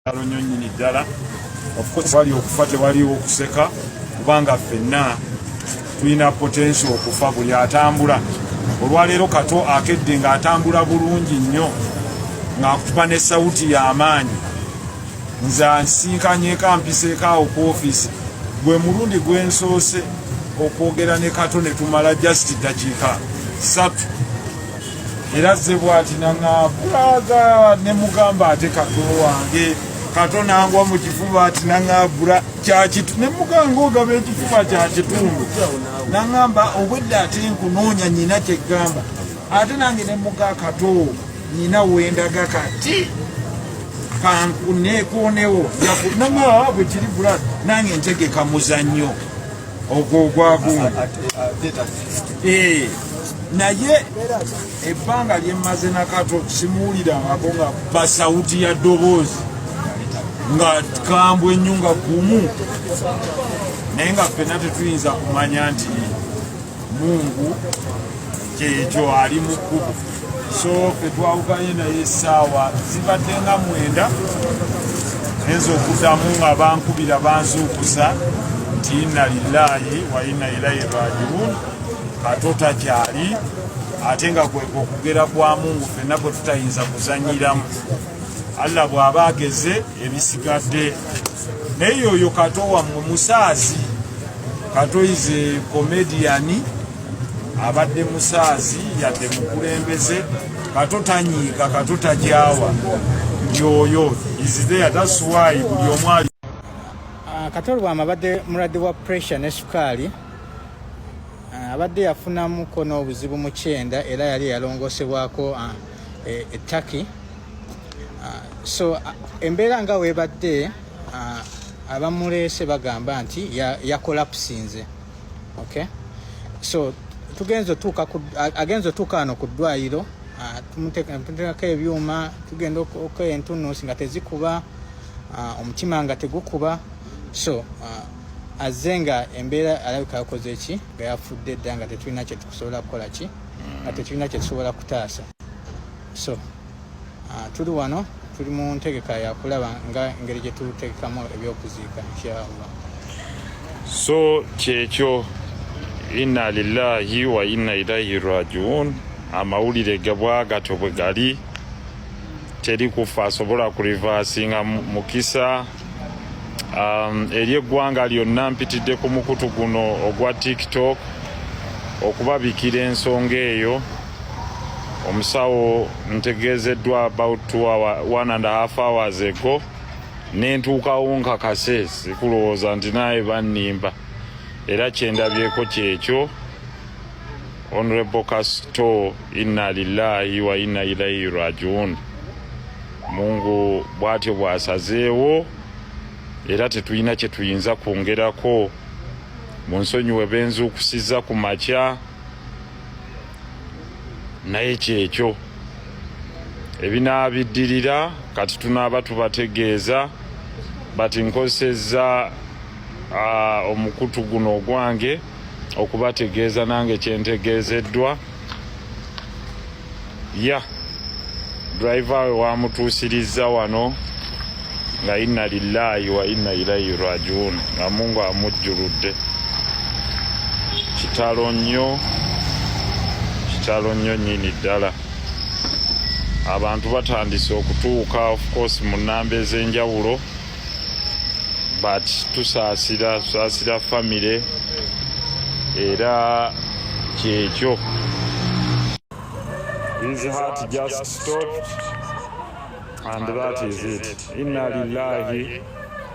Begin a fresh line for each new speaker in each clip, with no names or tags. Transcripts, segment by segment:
kitalo nnyo nnyini ddala wali okufa tewaliwo okuseka kubanga ffenna tulina potensi okufa buli atambula olwaleero kato akedde ng'atambula bulungi nnyo ng'akutuba ne sawuti y'amaanyi nze ansinkanyeko ampiseeko awo ku ofiisi gwe mulundi gwensoose okwogera ne kato ne tumala just ddakiika satu era ze bwati naŋabulaga ne mugamba ate kato wange kato nangwa mu kifuba ati naŋabula kyakitu ne muganga ogaba ekifuba kya kitundu naŋamba obwedde ate nkunoonya nyina kyegamba ate nange ne muga kato nyina wendaga kati kankunekonewo naŋaa bwe kiri bula nange ntegeka muzannyo ogwo ogwagumu eh, naye ebbanga lyemmaze nakato simuwulira ngako nga basawuti ya ddoboozi nga kambwe ennyo nga gumu naye nga ffena tetuyinza kumanya nti mungu kyeekyo ali mu kkubo so fe twawukanye naye essaawa zibadde nga mwenda neza okuddamu nga bankubira banzuukusa nti inna lillaahi wa inna ilaihi rajiun ato takyali ate nga kweka okugera kwa mungu fenna kwe tutayinza kuzanyiramu allah bw'aba ageze ebisigadde naye oyo kato wammwe musaazi kato ize komediyani abadde musaazi yadde mukulembeze kato tanyiiga kato tajawa yoyo izidea tasuwayi buli omwali ah,
kato lwama abadde mulwadde wa pressure ne sukaali ah, abadde yafunamuko n'obuzibu mu kyenda era yali yalongosebwako ah, e, e turkey so embeera nga webadde abamuleese bagamba nti yakolapusinze ya okay so tugenze otuuka agenze otuuka wano ku ddwaliro ah, tumuteekako ebyuma tugenda okola entunuusi nga tezikuba ah, omutima nga tegukuba so ah, azze nga embeera alabika yakoze ki nga yafudde dda nga tetulina kyetukusobola kukola ki nga tetulina kyetusobola kutaasa so Ah, tuli wano tuli mu ntegeka yakulaba nga engeri gye tutegekamu ebyokuziika inshallah
so kyekyo inna lillahi wa inna ilaihi rajiun amawulire gebwagatyo bwe gali teri kufa asobola kurivasinga mukisa um, eri eggwanga lyonna mpitidde ku mukutu guno ogwa tiktok okubabikira ensonga eyo omusawo ntegeezeddwa about two hour, one and a half hours ago nentuukawo nkakase sikulowooza nti naaye bannimba era kyendabyeko kyekyo honorable kasto inna lillahi wa inna ilaihi rajiun mungu bwatyo bwasazeewo era tetulina kye tuyinza kwongerako mu nsonyiwe benzuukusiza ku makya naye kyekyo ebinaabiddirira kati tunaaba tubategeeza bati nkozesezza omukutu guno ogwange okubategeeza nange kyentegeezeddwa ya driver we wamutuusirizza wano nga inna lillahi wa inna ilaihi rajiun nga mungu amujjuludde kitalo nnyo kitalo nnyo nyini ddala abantu batandise okutuuka of course mu namba ez'enjawulo but tusaasira tusaasira famire era kyekyo His heart just stopped and that is it. Inna lillahi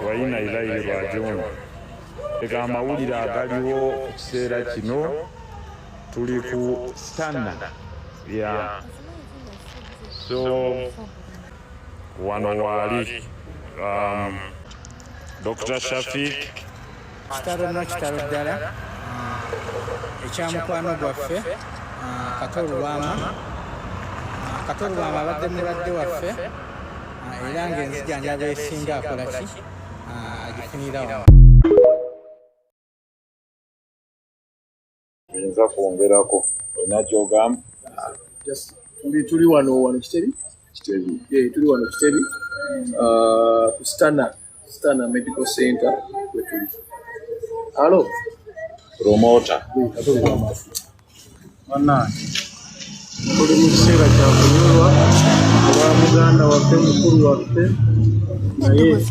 wa inna ilaihi rajiun. Ega amawulire agaliwo ku kiseera kino tuli ku stanna ya so wano waali um, Dr. Shafiq kitalo
no kitalo ddala ekyamukwano gwaffe kato lubwama kato lubwama abadde mulwadde waffe era ngaenzijanjaba esinga akolaki agifunirawo
nza kwongerako olina
kyogamba tuli wano wano
kitebi
kitebi eh, tuli wano kitebi ah, ku stana stana medical center wetuli halo promota banange tuli mu kiseera kya kunyolwa olwa muganda waffe mukulu waffe naye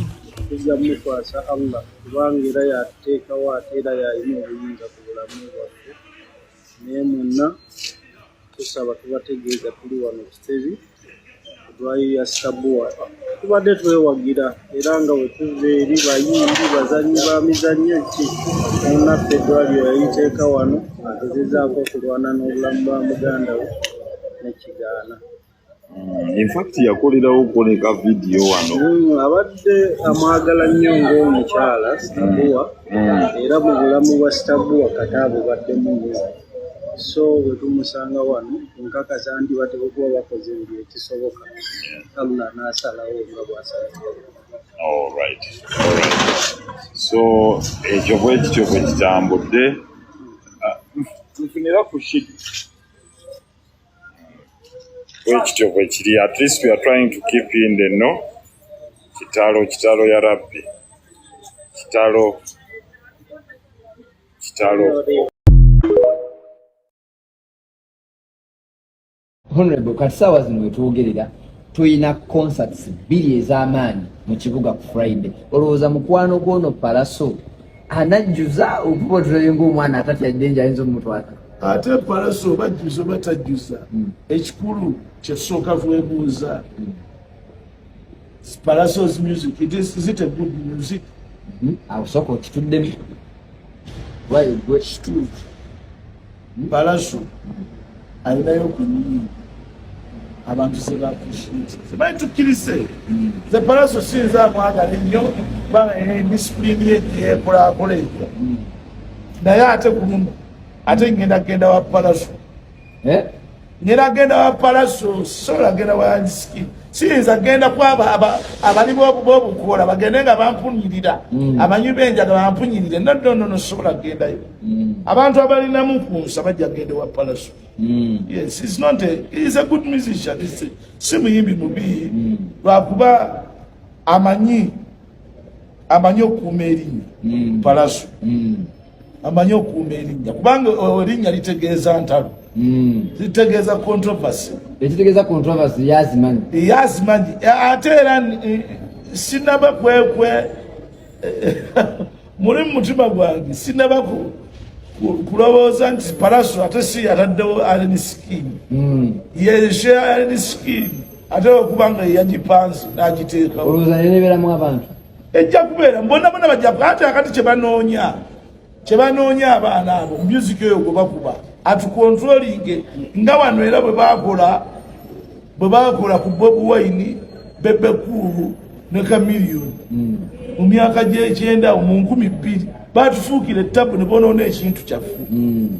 tujja mukwasa allah kubanga era yateekawo ate era yalina obuyinza bulamu bwaffe naye mwenna tusaba tubategeeza tuli wano kitebi edwayo ya sabuwa tubadde twewagira era nga wetuva eri bayimbi bazanyi ba mizannyo ki munaffe edwaliro yayiteeka wano agezezaako okulwana n'obulamu bwa muganda we nekigaana
Mm, in fact yakolerawo koleka vidiyo wano mm, abadde
amwagala nnyo ngaomukyala sitabuwa mm, era mu bulamu bwa sitabuwa kata abubaddemu nyo so wetumusanga wano nkakasa nti bateka okuba bakoze buli ekisoboka allah nasalawo nga bwasalawo
alright so ekyo bwekityo bwekitambudde ah, nfunira ku shidi bwekityo bwekiri at least we are trying to keep in the no kitalo kitalo ya rabbi kitalo kitalo
honorable kati saawa zino wetwogerera tulina concerts bbiri ez'amaanyi mu kibuga ku friday olowooza mukwano gwono palaso anajjuza okuba otulabe ngaomwana atatya ddenje ayinza omutwala ate palasi
oba ajjuza oba tajjuza hmm. ekikulu kyesooka kwebuuza hmm. palasos music it is, is it a good music hmm? awo
sooka okituddemu why good
Palaso alinayo ku nnyingi abantu sebakusibaye tukkirize ze palaso siyinza amwagala ennyo kubanga disipulini ye gyeyekulakola ekyo naye ate kuluno ate ngenda kugenda wa palaso eh? Nina genda wa palaso sola genda wa anski siyinza genda kwaba abali bobukoola bagende nga bampunyirira mm. amanyi benjaga bampunyirire nodonono sobola gendayo mm. abantu abalinamu kunsa bajja gende wa palaso mm. yes is not a, is a good musician si muyimbi mubi lwakuba amanyi amanyi okuuma erinnya mm. palaso mm. amanyi okuuma erinnya kubanga erinnya litegeeza ntalo mm. litegeeza controversy ekitegeeza controversy yazimanyi yazimanyi ate era eh, sinaba kwekwe eh, muli mumutima gwange sinaba kulowooza nti palaso ate si yataddewo aleni sikiini yeshe aleni sikiini ate okuba nga eyagipansi n'agiteekawo olowooza naye nebeeramu
abantu ejja kubeera
bona bona bajja ate akati kye banoonya kye banoonya abaana abo myuziki oyo gwe bakuba atukontrolinge nga wano era bwe bakola bwe bakola ku bob wine bebekuulu ne kamiliyoni hmm. mu myaka gy'ekyenda mu nkumi bbiri batufuukira ettabu ne bonoona ekintu kyaffe hmm.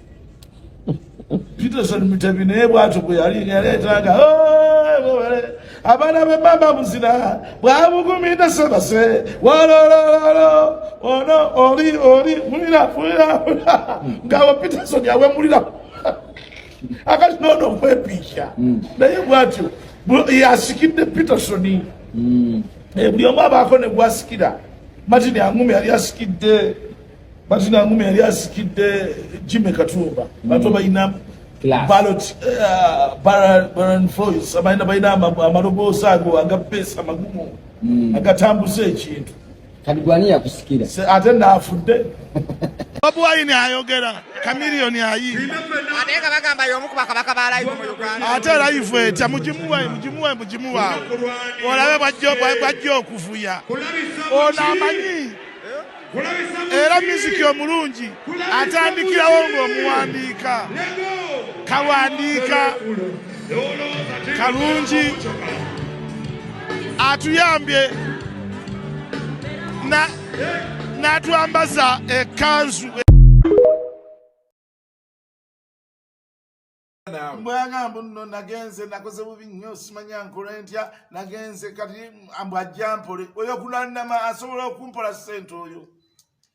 Peterson Mutabi naye bwatyo bwe yali yaleetanga abaana be mama muzina bwabugumida sebase walolololo ono oli oli mulira fulira ngabo Peterson yawemulira akati nono okwepiikya hmm. naye bwatyo yasikidde Peterson hmm. eh, buli omu abaako ne gwasikira Martin Angume yali asikidde Martin Angume yali asikidde Jimmy Katumba bato mm. balina ballot uh, Baron Voice abalina balina amaloboozi ago agapeesa amagumu mm. agatambuza ekintu kati
gwani yakusikira ate naafudde
Bobi Wine ayogera Chameleon ayimba ate nga bagamba
y'omu ku bakabaka ba live mu Uganda ate live etya
mugimuwe mugimuwe mugimuwa olabe bwajja okuvuya ono amanyi era miziki omulungi atandikirawo ng'omuwandiika kawandiika kalungi atuyambye n'atwambaza ekkanzu bwagamba nno nagenze nakoze bubi nnyo simanya nkola ntya nagenze kati mbu ajja mpole oyo kulanama asobola okumpola sente oyo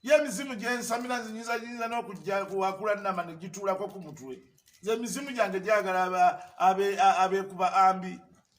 ye emizimu gyensamira nzinyinza nyinza n'okujja wakulanama negituulako ku mutwe ze emizimu gyange gyagala abekuba ambi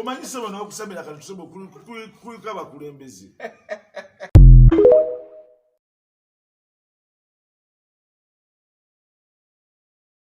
omanyi sebo nokusabira kati tusobo kulika bakulembeze